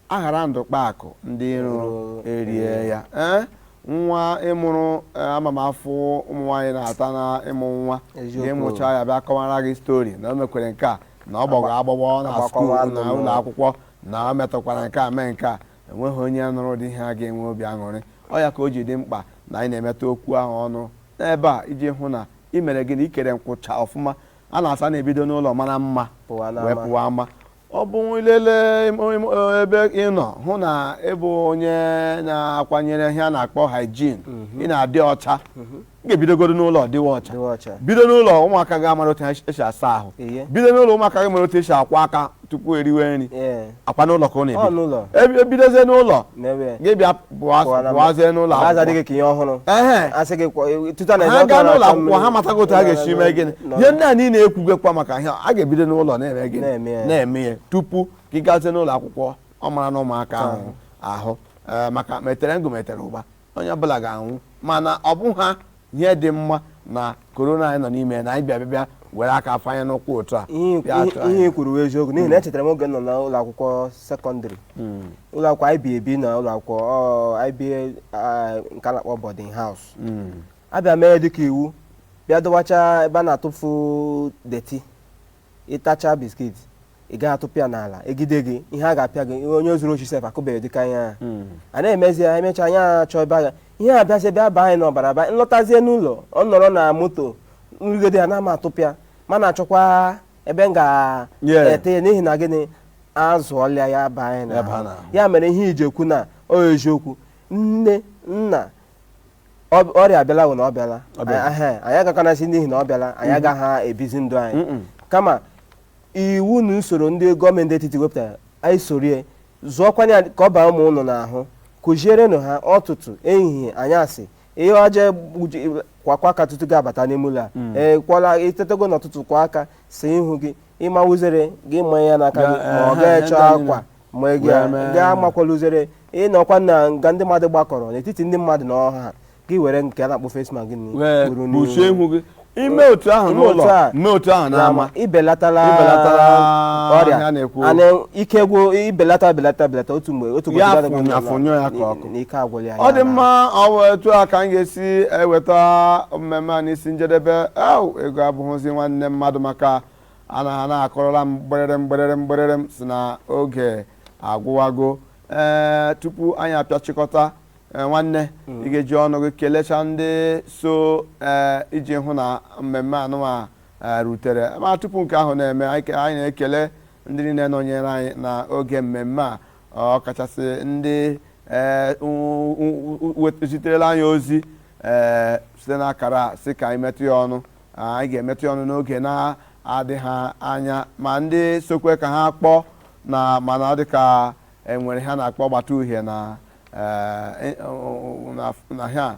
aghara ndụ kpa akụ ndị iro erie ya ee nwa ịmụrụ eh, ama m afụfụ ụmụ nwaanyị na-ata na ịmụ nwa Eziokwu. ga-emụcha ya bịa kọwara gị stori na o mekwere nke a na ọ gbọgọ agbọgbọ na skuul na ụlọ akwụkwọ na o metụkwara nke a mee nke a o nweghị onye nụrụ ụdị ihe a ga-enwe obi aṅụrị ọ ya ka o ji dị mkpa na anyị na-emetụ okwu ahụ ọnụ n'ebe a iji hụ na i mere gịnị ikere nkwụcha ọfụma a na-asị na ebido n'ụlọ mara mma wee pụwa ama ọ bụ ilele ebe ị nọ hụ na ịbụ onye na-akwanyere ihe a na-akpọ hygiene mhm. ị na-adị ọcha mhm. ị ga-ebidogodu n'ụlọ dịwa ọcha bido n'ụlọ ụmụaka gị amara otu esi asa ahụ bido n'ụlọ ụmụaka gị mara otu esi akwa aka tupu eriwe nri ọ kwa n'ụlọ ka ọ na-ebi ebidozie n'ụlọ gị bịa pụwazie n'ụlọ akwụkwọ ha gaa n'ụlọ akwụkwọ ha matago otu ha ga-esi mee gịnị ihe ndị a niile ekwugakwa maka ihe a ga-ebido n'ụlọ na-eme gịnị na-eme ya tupu gị gazie n'ụlọ akwụkwọ ọ mara na ụmụaka ahụ ahụ maka metere ngụ metere ụba onye ọbụla ga-anwụ mana ọ bụ ha ihe dị mma na korona anyị nọ n'ime na anyị bịa bịa bịa were aka afanye n'ụkwụ otu a ihe bịa atụ ihe- anyị. ihe i kwuru bụ eziokwu n'ihi na echetara m oge m nọ n'ụlọ akwụkwọ sekọndịrị ụlọ akwụkwọ anyị bi ebi na ụlọ akwụkwọ ọ, anyị bi ah, nke a na-akpọ boarding house Mm. abịa mee dịka iwu bịa dọwacha ebe a na-atụfu deti ịtacha biskit ị gaghị atụpụ ya n'ala egide gị ihe a ga-apịa gị onye zuru oshi sef akụbeghị dịka ihe a hmm. a na-emezi ya emechaa anyị achọ ebe a ga ihe a bịazi bịa baa anyị n'ọbara ba m lọtazie n'ụlọ ọ nọrọ na moto m rie gide ya na ama atụpụ ya ma na-achọkwa ebe m ga-eti ya n'ihi na gịnị azụọla ya baa anyị n'ahụ ya mere ihe iji ekwu na ọ eziokwu nne nna Ọ- ọrịa abịala wụ na ọ bịala Ọ bịala. Anyị- ehe, anyị agakwanụ asị n'ihi na ọ bịala anyị agaghị ebizi ndụ anyị Mm-mm. kama iwu na usoro ndị gọọmenti etiti wepụtara anyị soro ya zụọkwanye ya ka ọ baa ụmụ ụnụ n'ahụ kụzierenụ ha ọtụtụ ehihie anyasị ihe ọjọọ gbuji- kwakwa aka tutu gị abata n'ime ụlọ a Mm. ee kwala itetego n'ọtụtụ kwa aka saa ihu gị ịma uzere gị manye ya n'aka gị Ya, ma ọ ehe, gị ehe, chọọ ndị anyị akwa ma ị ga- Wee mee. gị amakwala uzere ịnọkwa na nga ndị mmadụ gbakọrọ n'etiti ndị mmadụ na ọha gị were nke a na-akpọ face mask gị na- wee buru n'ihu. kpuchie ihu gị ime otu ahụ Ime otu n'ụlọ a. mee otu ahụ n'ama n'ama ibelatala Ibelatala ọrịa ha na-ekwu. ana ike gwụ ibelata belata belata otu mgbe otu Ya ụbọchị fụnye- ga-adịgide afụnyụ ya ka ọkụ. na ike agwụla ya ọ dị ya na- mma ọ bụ etu a ka a ga-esi eweta mmemme a n'isi njedebe au ego abụghịzi nwanne mmadụ maka a na ha na-akụrụla m mgbịrịrịm mgbịrịrịm mgbịrịrịm sị na oge agwụwago ee tupu anyị apịachịkọta ee, nwanne ị ga-eji ọnụ gị kelecha ndị so ee, iji hụ na mmemme anụwa ee, rutere ma tupu nke ahụ na-eme anyị ke- anyị na-ekele ndị niile nọnyere anyị na oge mmemme a ọkachasị ndị ee, u- u- u- wet- ziterela anyị ozi ee, site n'akara a, sị ka anyị metụ ya ọnụ Anyị ga-emetụ ya ọnụ n'oge na-adịghị anya ma ndị sokwe ka ha kpọọ na mana ọ dị ka enwere ihe a na-akpọ gbata uhie na eh, na- na ihe a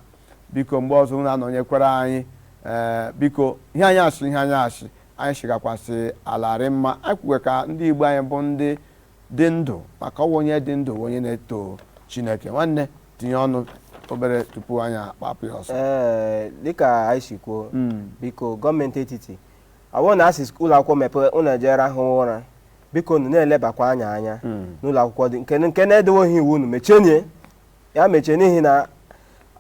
biko mgbe ọzọ unu anọnyekwara anyị eh, biko ihe anyị asị ihe anyị asị anyị sigakwasị alarị mma anyị kwuwe ka ndị Igbo anyị bụ ndị dị ndụ maka ọwụ onye dị ndụ wụ onye na-eto Chineke nwanne tinye ọnụ obere tupu anyị akpapụ ya ọsọ ee dịka anyị si kwuo hmm. biko gọọmenti etiti ọwụ na asị ụlọ akwụkwọ mepee unu ejere rahụ ụra biko unu na-elebakwa anya anya hmm. n'ụlọ akwụkwọ ndị nke na-edeweghị iwu unu mechie nye ya mechie n'ihi na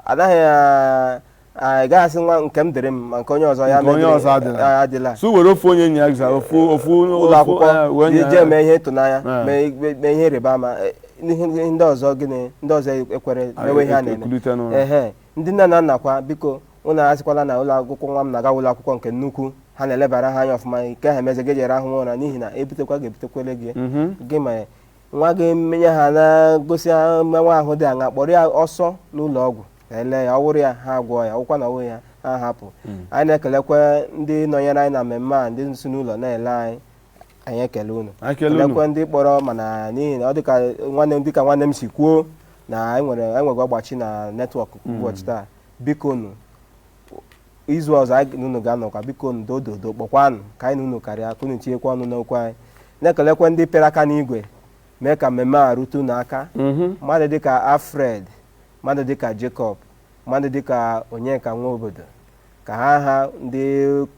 anaghị a- a- gaghị asị nwa nke m dịrị m ma nke onye ọzọ ya Nke onye medịrị- ọzọ adịla. a- adịla so were ofu onye nye ya gịza ofu ofu ụlọ ofu, eh, akwụkwọ wee nye jee ya. mee ihe ịtụnanya Eh. mee ikpe- mee ihe ịrịba ama eh, ihe ihe ndị ọzọ gịnị ndị ọzọ ekwere Ah, mewe ihe a e- na-eme ekulite n'ụlọ. ehe ndị nne na nna kwa biko unu asịkwala na ụlọ akwụkwọ nwa m na-aga wụ ụlọ akwụkwọ nke nnukwu ha na-elebara ha anya ọfụma nke ha emezi gị jere rahụ ụra n'ihi na ebutekwa ga-ebutekwere gị Mhm. gị ma nwa gị menye ha na-egosi ha ma ọwụ ahụ dị aṅa kpọrọ ya ọsọ n'ụlọ ọgwụ ka e lee ya ọwụrụ ya ha agwọ ya ọwụkwa na ọwụghị ya ha hapụ anyị na-ekelekwa ndị nọnyere anyị na mmemme a ndị si n'ụlọ na-ele anyị anyị ekele unu Anyị ekele unu. kelekwa ndị kpọrọ mana n'ihi na ọ dịka nwanne m dịka nwanne m si kwuo na anyị nwere enweghị ọgbachi na netwọk ụbọchị taa bikonụ izu ọzọ anyị na unu ga-anọkwa biko ndo ododo kpọkwanụ ka anyị na unu karịa ka unu tinyekwa ọnụ n'okwu anyị na-ekelekwa ndị pịrị aka n'igwe mee ka mmemme a rute unu aka mmadụ dịka Alfred mmadụ dịka Jacob mmadụ dịka Onyeka Nwaobodo ka ha ha ndị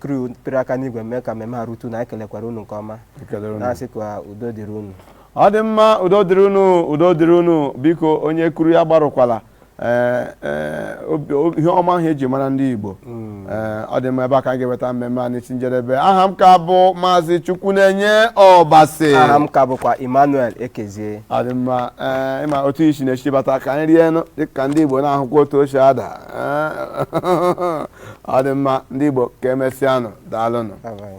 crew pịrị aka n'igwe mee ka mmemme a rute unu anyị kelekwara unu nke ọma Ekelere unu. na-asị ka udo dịrị unu ọ dị mma udo dịrị unu udo dịrị unu biko onye kuru ya gbarụkwala ee ee, obi- obi- ihe ọma ahụ eji mara ndị Igbo ee ọ dị mma ebe a ka anyị ga-eweta mmemme a n'isi njedebe aha m ka bụ Maazị Chukwunenye Ọbasi aha m ka bụkwa Emmanuel Ekezie ọ dị mma ee ịma otu isi na-echi bata ka anyị rienụ dịka ndị Igbo na-ahụkwa otu o si ada Ee, ọ dị mma ndị Igbo ka emesịanụ daalụnụ Bye-bye.